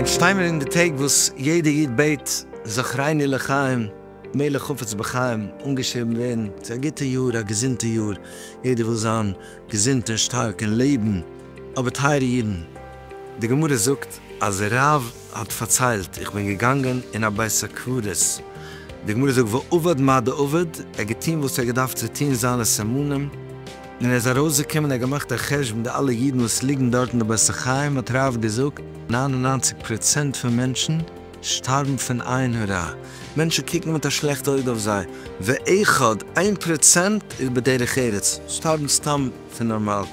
אונז שטיי מיר אין די טעג וואס יעדע איד בעט זכרני לחיים מלך חפץ בחיים אנגעשריבן ווערן צו א גוטע יאר א געזונטע יאר יעדער וויל זיין געזונט און שטארק און לעבן אבער טייערע אידן די גמרא זאגט אז רב האט פארציילט, איך בין געגאנגען אין א בית הקברות, די גמרא זאגט ועבד מה דעבד, ער האט געטון וואס ער האט געדארפט צו טון זיינע סימנים, און ער איז ארויסגעקומען, ער האט געמאכט א חשבון די אלע אידן וואס ליגן דארט אין די בית החיים, האט רב געזאגט, נײַן און נײַנציק פראצענט פון מענטשן שטארבן פון עין הרע, מענטשן קוקן מיט א שלעכט אויג אויף זיי, ואחד, איין פראצענט, איז בדרך ארץ, שטארבן סתם פון נארמאל,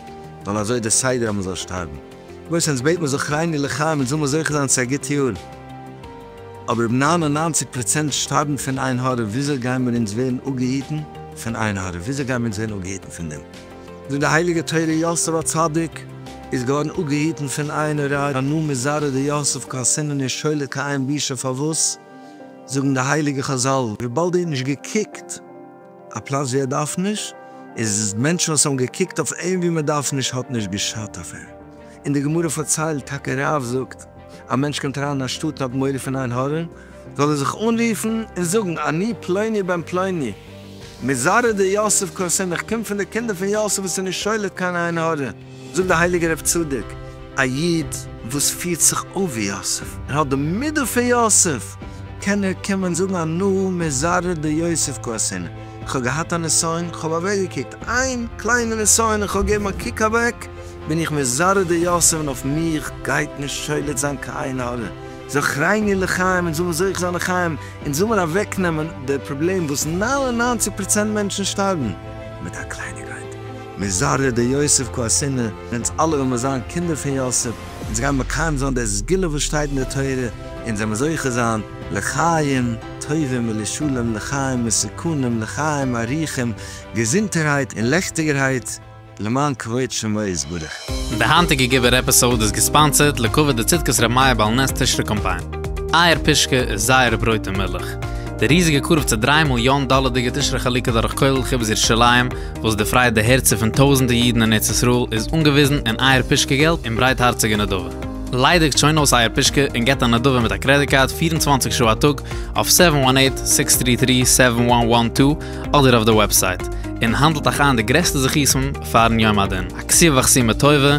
ווייל אזוי איז די סדר אז מען זאל שטארבן. וואס אונז בעט מיר זכרייני לחיים אונז זאל מיר זוכה זיין צו א גוט יאר, אבער אויב נײַן און נײַנציק פראצענט שטארבן פון עין הרע וויאזוי גייען מיר אונז ווערן אפגעהיטן פון עין הרע? וויאזוי גייען מיר אונז ווערן אפגעהיטן פון דעם? זאגט די הייליגע תורה יוסף הצדיק איז געווארן אפגעהיטן פון עין הרע הנה מזרע דיוסף כעסין אינו שולט כעין בישה פארוואס זאגן די הייליגע חזל וויבאלד ער האט נישט געקוקט א פלאץ ווי ער דארף נישט, איז מענטשן וואס האבן געקוקט אויף אים ווי מען דארף נישט האט נישט געשאדט אויף אים, און די גמרא פארציילט טאקע רב זאגט א מענטש קומט אריין אין א שטאט און האט מורא פון עין הרע זאל ער זיך אנרופן און זאגן אני פלוני בן פלוני מזרע די יוסף קארסין איך קום פון די קינדער פון יוסף וואס איז נישט שולט קיין עין הרע. זאגט דער הייליגער רב צדוק, א איד וואס פירט זיך אויף ווי יוסף, און האט די מידה פון יוסף, קען ער קומען זאגן אנא מזרע דיוסף כעשינו, איך האב געהאט א נסיון, איך האב אוועק געקוקט, איין קליינע נסיון, איך האב געגעבן א קוק אוועק, בין איך מזרע דיוסף און אויף מיך גייט נישט שולט זיין קיין עין הרע, זכרני לחיים און זאל מיר זוכה זיין לחיים, און זאל מיר אוועק נעמען די פראבלעם וואס נײַן און נײַנציק פראצענט מענטשן שטארבן מיט א קלייניגקייט. מזרע די יוסף כה עשינו, אונז אלע וועלמער זיין קינדער פון יוסף, אונז גיימער מקיים זיין די סגולה וואס שטייט אין די תורה, אונז וועלמער זוכה זיין לחיים טובים ולשלום לחיים מסוכנים לחיים אריכים, געזונטערהייט און לעכטיגערהייט למען כבוד שמו יתברך. די היינטיגע געווער עפיסאוד איז געספאנסערד לכבוד די צדקת רמיה בעל נס תשרי קאמפיין. אייער פישקע איז זייער ברויט און מילך. די ריזיגע קרוב צו דריי מיליאן דאלערדיגע תשרי חלוקה דורך כולל חיבת ירושלים וואס דערפרייט די הערצער פון טויזענטער אידן אין ארץ ישראל איז אנגעוויזן אין אייער פושקע געלט און ברייטהארציגע נדבה. ליידיגט שוין אויס אייער פושקע און געבט א נדבה מיט א קרעדיט קארד פֿיר און צוואַנציק שעה א טאג אויף סעווען וואן עיט, סיקס טרי טרי, סעווען וואן וואן טו אדער אויף די וועבסייט און האנדלט אייך איין די גרעסטע זכותים פארן יום הדין, א כסי וחסי מטובה,